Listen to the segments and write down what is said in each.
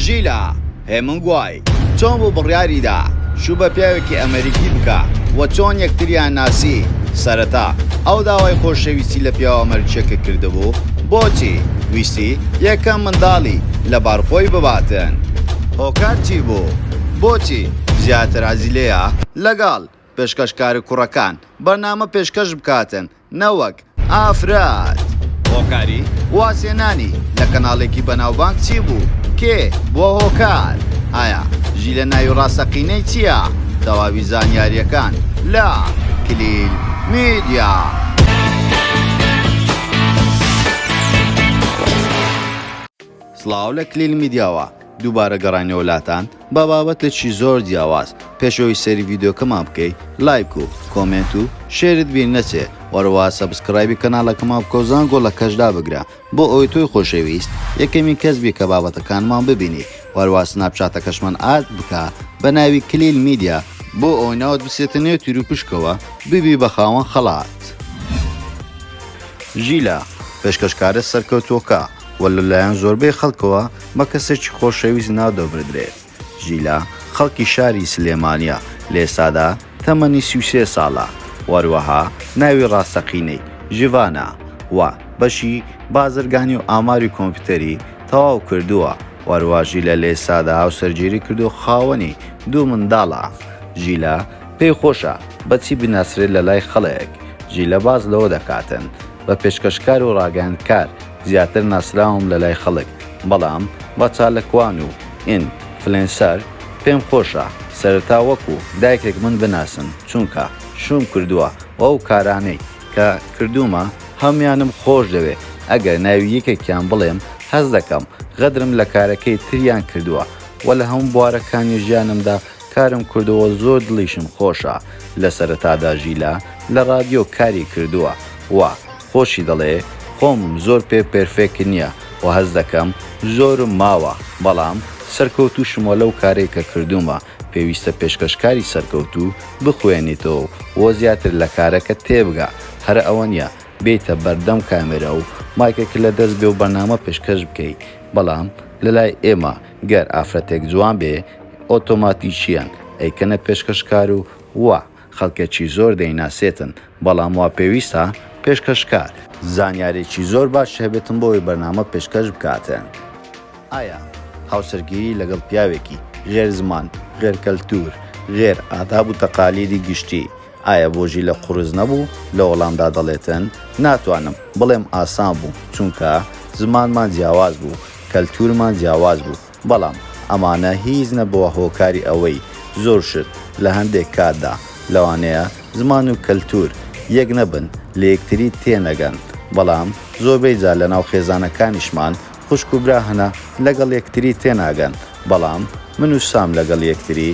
ژیلا هێمنگوای چۆن بوو بڕیاریدا شوو بە پیاوێکی ئەمەریکی بکا و چۆن یەکتریان ناسی؟ سەرەتا ئەو داوای خۆشەویستی لە پیاوە ئەمەریکیەکە کردبوو؟ بۆچی ویستی یەکەم منداڵی لەبار خۆی بباتن؟ هۆکار چی بوو؟ بۆچی زیاتر حەزی لێیە لەگەڵ پێشکەشکارە کوڕەکان بەرنامە پێشکەش بکاتن نەوەک ئافرەت. هۆکاری وازهێنانی لە کەناڵێکی بەناوبانگ چی بوو؟ کێ بووە هۆکار؟ ئایا ژیلە ناوی ڕاستەقینەی چییە؟ تەواوی زانیارییەکان لە، کلیل میدیا. سڵاو لە کلیل میدیاوە دووبارە گەڕاینەوە لاتان بە بابەتێکی زۆر جیاواز، پێش ئەوەی سەیری ڤیدیۆکەمان بکەی لایک و کۆمێنت و شێرت بیر نەچێ وەروەها سەبسکرایبی کەناڵەکەمان بکەو زانگۆڵەکەش دابگرە بۆ ئەوەی تۆی خۆشەویست یەکەمین کەس بی کە بابەتەکانمان ببینیت وەروەها سناپچاتەکەشمان ئاد بکە بە ناوی کلیل میدیا بۆ ئەوەی ناوت بچێتە نێو تیروپشکەوە ببی بە خاوەن خەڵات. ژیلا، پێشکەشکارە سەرکەوتووەکە، و لەلایەن زۆربەی خەڵکەوە بە کەسێکی خۆشەویست نادۆبردرێ. ژیلا خەڵکی شاری سلێمانیە، لێسادا تەمەنی سی و سێ ساڵە، وەروەها ناوی ڕاستەقینەی، ژیڤانە، وە، بەشی بازرگانی و ئاماری کۆمپیوتەری تەواو کردووە، وەروەها ژیلا لێسادا هاوسەرگیری کردووە و خاوەنی دوو منداڵە. ژیلا پێی خۆشە بە چی بناسرێت لە لای خەڵک؟ ژیلا باس لەوە دەکاتن بە پێشکەشکار و ڕاگەیاندکار، زیاتر ناسراوم لە لای خەڵک بەڵام بە چاالکوان و ئین فلێنسەر پێم خۆشە سەرەتا وەکو دایکێک من بناسن چونکە شووم کردووە و ئەو کارانەی کە کردوومە هەموویانم خۆش دەوێ ئەگەر ناوی یەکێکیان بڵێم هەست دەکەم غەدرم لە کارەکەی تریان کردووە و لە هەموو بوارەکانی ژیانمدا کارم کردووە زۆر دڵیشم خۆشە لە سەرەتادا ژیلا لە ڕادیۆ کاری کردووە و خۆشی دەڵێ خۆم زۆر پێ پێرفێکت نیە وە هەست دەکەم زۆرم ماوە بەڵام سەرکەوتوشموە لەو کارەی کە کردومە پێویستە پێشکەشکاری سەرکەوتو بخوێنیتەوەو وە زیاتر لە کارەکەت تێبگا هەرە ئەوە نیە بێیتە بەردەم کامێرا و مایکەکە لە دەست بێ و بەرنامە پێشکەش بکەی بەڵام لە لای ئێمە گەر ئافرەتێک جوان بێ ئۆتۆماتیکیەن ئەیکەنە پێشکەشکارو وە خەڵکێکی زۆر دەیناسێتن، بەڵام وا پێویستە پێشکەشکار. زانیاریی زۆر باش هەبێتن بۆ ئەوەی بەرنامە پێشکەش بکاتن. ئایا هاوسەرگیری لەگەڵ پیاوێکی غێر زمان، غێر کەلتوور، غێر ئاداب و تەقالیدی گشتی، ئایا بۆ ژیلە قورس نەبوو؟ لە وەڵامدا دەڵێتن، ناتوانم بڵێم ئاسان بوو، چونکە زمانمان جیاواز بوو، کەلتوورمان جیاواز بوو، بەڵام ئەمانە هیچ نەبووە هۆکاری ئەوەی زۆر شت لە هەندێک کاتدا لەوانەیە زمان و کەلتوور یەک نەبن لە یەکتری تێنەگەن بەڵام زۆربەی جار لە ناو خێزانەکانیشمان خوشک و برا هەنە لەگەڵ یەکتری تێناگەن بەڵام من و سام لەگەڵ یەکتری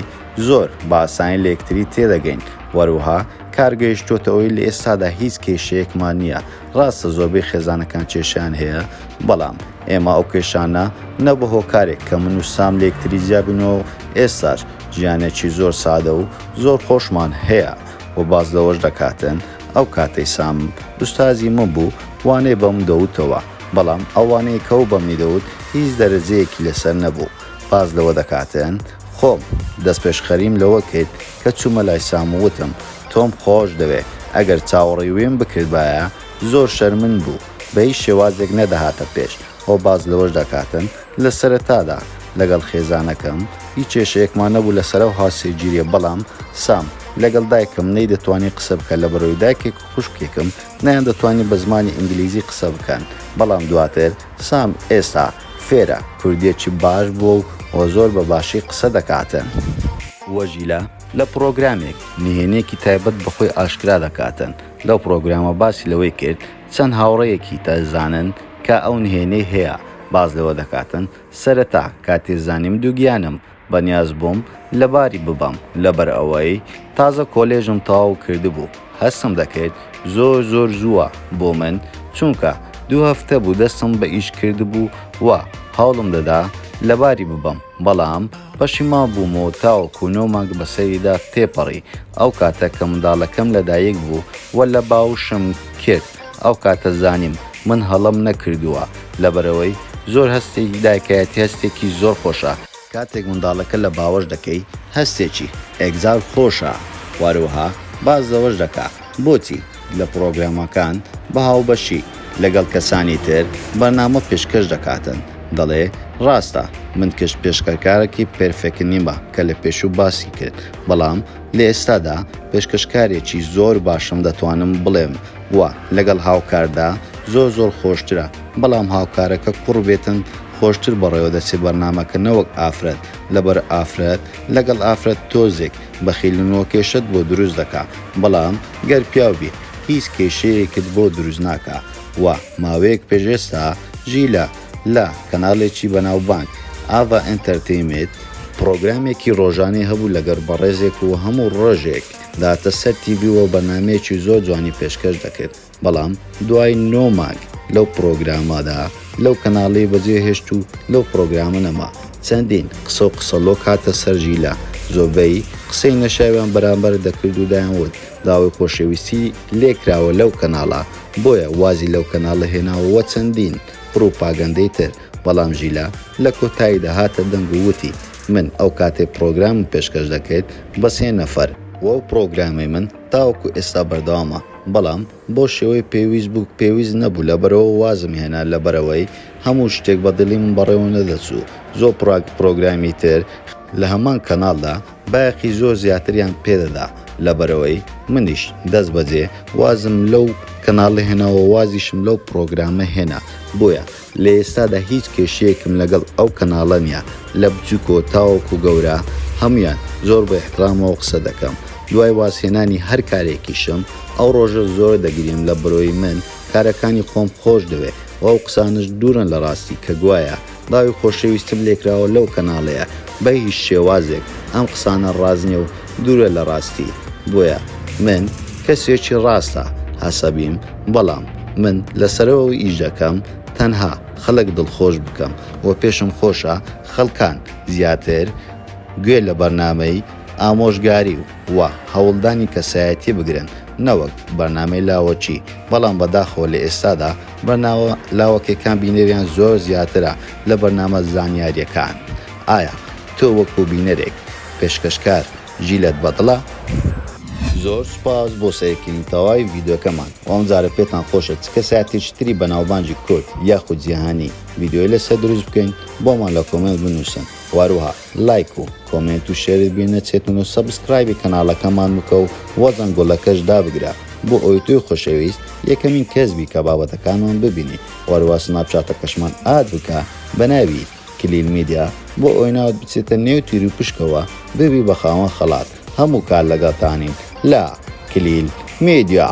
زۆر بە ئاسانی لە یەکتری تێدەگەین وەروها کار گەیشتۆتە ئەوەی لە ئێستادا هیچ کێشەیەکمان نییە ڕاستە زۆربەی خێزانەکان کێشەیان هەیە بەڵام ئێمە ئەو کێشانە نە بە هۆکارێک کە من و سام لێکتری جیا بنەوە و ئێستاش ژیانێکی زۆر سادە و زۆر خۆشمان هەیە و باس لەوەش دەکاتن ئەو کاتەی سام ئوستازی من بوو وانەی بە من دەوتەوە بەڵام ئەو وانەی کە ئەو بە منی دەوت هیچ دەرەجەیەکی لەسەر نەبوو باس لەوە دەکاتن خۆم دەستپێشخەریم لەوە کرد کە چوومە لای سام و وتم تۆم خۆش دەوێ ئەگەر چاوەڕێی ویم بکردبایە زۆر شەرمن بوو بە هیچ شێوازێک نەدەهاتە پێش، ئەو باس لەوەش دەکاتن، لە سەرەتادا لەگەڵ خێزانەکەم هیچ کێشەیەکمان نەبوو لە سەرەوە هاوسێگیریە بەڵام سام لەگەڵ دایکم نەیدەتوانی قسە بکە لە بەرەوەی دایکێک و خوشکێکم نەیاندەتوانی بە زمانی ئینگلیزی قسە بکەن بەڵام دواتر سام ئێستا فێرە کوردیەکی باش بووە و و زۆر بە باشی قسە دەکاتن. وەژیلە لە پڕۆگرامێک نهێنیەکی تایبەت بە خۆی ئاشکرا دەکاتن. لەو پڕۆگرامە باسی لەوەی کرد چەند هاوڕێیەکی تەزانن کە ئەو نهێنیەی هەیە باس لەوە دەکاتن سەرەتا کاتێ زانیم دوگیانم بەنیاز بووم لەباری ببەم لەبەر ئەوەی تازە کۆلێژم تەواو کردبوو هەستم دەکرد زۆر زۆر زووە بۆ من چونکە دوو هەفتە بوو دەستم بە ئیش کردبوو و هەوڵم دەدا لەباری ببەم بەڵام پەشیمان بووم و تاوەکو نۆ مانگ بە سەریدا تێپەڕی، ئەو کاتە کە منداڵەکەم لەدایک بوو و لە باوشم کرد، ئەو کاتە زانیم من هەڵەم نەکردووە، لەبەرئەوەی زۆر هەستێکی دایکایەتی هەستێکی زۆر خۆشە، کاتێک منداڵەکە لە باوەش دەکەی هەستێکی ئێکزار خۆشە، وارەوها باس لەوەش دەکا بۆچی؟ لە پرۆگرامەکان بە هاوبەشی لەگەڵ کەسانی تر بەرنامە پێشکەش دەکاتن دەڵێ ڕاستە من کشت پێشکەرکارەکی پێرفێکنیمە کە لە پێشوو باسی کرد بەڵام لە ئێستادا پێشکەشکارێکی زۆر باشم دەتوانم بڵێم وە لەگەڵ هاوکاردا زۆر زۆر خۆشترە بەڵام هاوکارەکە کوڕ بێتن خۆشتر بەڕێوە دەچێ بەرنامەکە نەوەک ئافرەت لەبەر ئافرەت لەگەڵ ئافرەت تۆزێک بەخیلن وکێشەت بۆ دروست دەکا بەڵام گەر پیاو بیت هیچ کێشەیەکت بۆ دروست ناکا و ماوەیەک پێش ئێستا ژیلە لە کەناڵێکی بەناوبانگ ئاڤا ئێنتەرتەیمێت، پڕۆگرامێکی ڕۆژانەی هەبوو لەگەر بەڕێزێک و هەموو ڕۆژێک داتە سەر تیڤی و بەرنامەیەکی زۆر جوانی پێشکەش دەکرد بەڵام دوای نۆ مانگ لەو پڕۆگرامەدا، لەو کەناڵی بەجێ هێشت و لەو پڕۆگرامە نەما چەندین قسە و قسەڵۆک هاتە سەر ژیلا زۆربەی قسەی نەشاویان بەرامبەر دەکرد و دایان وت داوای خۆشەویستی لێکراوە لەو کەناڵە بۆیە وازی لەو کەناڵە هێناوە وە چەندین پڕوپاگەندەی تر بەڵام ژیلا لە کۆتاییدا هاتە دەنگ و وتی من ئەو کاتەی پڕۆگرامم پێشکەش دەکرد بە سێ نەفەر بوو ئەو پڕۆگرامەی من تاوەکو ئێستا بەردەوامە بەڵام بۆ شێوەی پێویست بوو پێویست نەبوو لەبەرئەوە وازم هێنا لەبەرئەوەی هەموو شتێک بە دڵی من بەڕێوە نەدەچوو زۆر پڕاک پڕۆگرامی تر لە هەمان کەناڵدا بایەخی زۆر زیاتریان پێدەدا لەبەرئەوەی منیش دەست بەجێ وازم لەو کەناڵە هێناوە وازیشم لەو پڕۆگرامە هێنا بۆیە لە ئێستادا هیچ کێشەیەکم لەگەڵ ئەو کەناڵە نیە لە بچوکەوە تاوەکو گەورە هەمویان زۆر بە ئیحترامەوە قسە دەکەم دوای واز هێنانی هەر کارێکیشم ئەو ڕۆژە زۆر دەگریم لە برۆی من کارەکانی خۆم خۆش دەوێ و ئەو قسانەش دورن لە ڕاستی کە گوایە باوی خۆشەویستم لێکراوە لەو کەناڵەیە بە هیچ شێوازێک ئەم قسانە ڕاست نیە و دورە لە ڕاستی بۆیە من کەسێکی ڕاستە هەسەبیم بەڵام من لە سەرەوە ئیش دەکەم تەنها خەڵک دڵخۆش بکەم و پێشم خۆشە خەڵکان زیاتر گوێ لە بەرنامەی ئامۆژگاری و هەوڵدانی کەسایەتی بگرن نەوەک بەرنامەی لاوەکی بەڵام بەداخەوە لە ئێستادا بەرنامە لاوەکێکان بینەریان زۆر زیاترە لە بەرنامە زانیاریەکان ئایا تۆ وەکو بینەرێک، پێشکەشکار، جیلت بەدڵە؟ زۆر سوپاس بۆ سەیرکردنی تەواوی ڤیدیۆکەمان و ئەمجارە پێتان خۆشە چ کەسایەتێکی تری بەناوبانگی کورد یاخود جیهانی ڤیدیۆی لەسەر دروست بکەین بۆمان لە کۆمێنت بنوسن و هەروەها لایک و کۆمێنت و شێرت بیر نەچێتن و سەبسکرایبی کەناڵەکەمان بکە و زەنگۆڵەکەش دابگرە بۆ ئەوەی تۆی خۆشەویست یەکەمین کەس بی کە بابەتەکانمان ببینی و هەروەها سناپچاتەکەشمان ئاد بکە بە ناوی کلیل میدیا، بۆ ئەوەی ناوت بچێتە نێو تیروپشکەوە ببی بە خاوەن خەڵات، هەموو کات لەگەڵتانین لە، کلیل میدیا.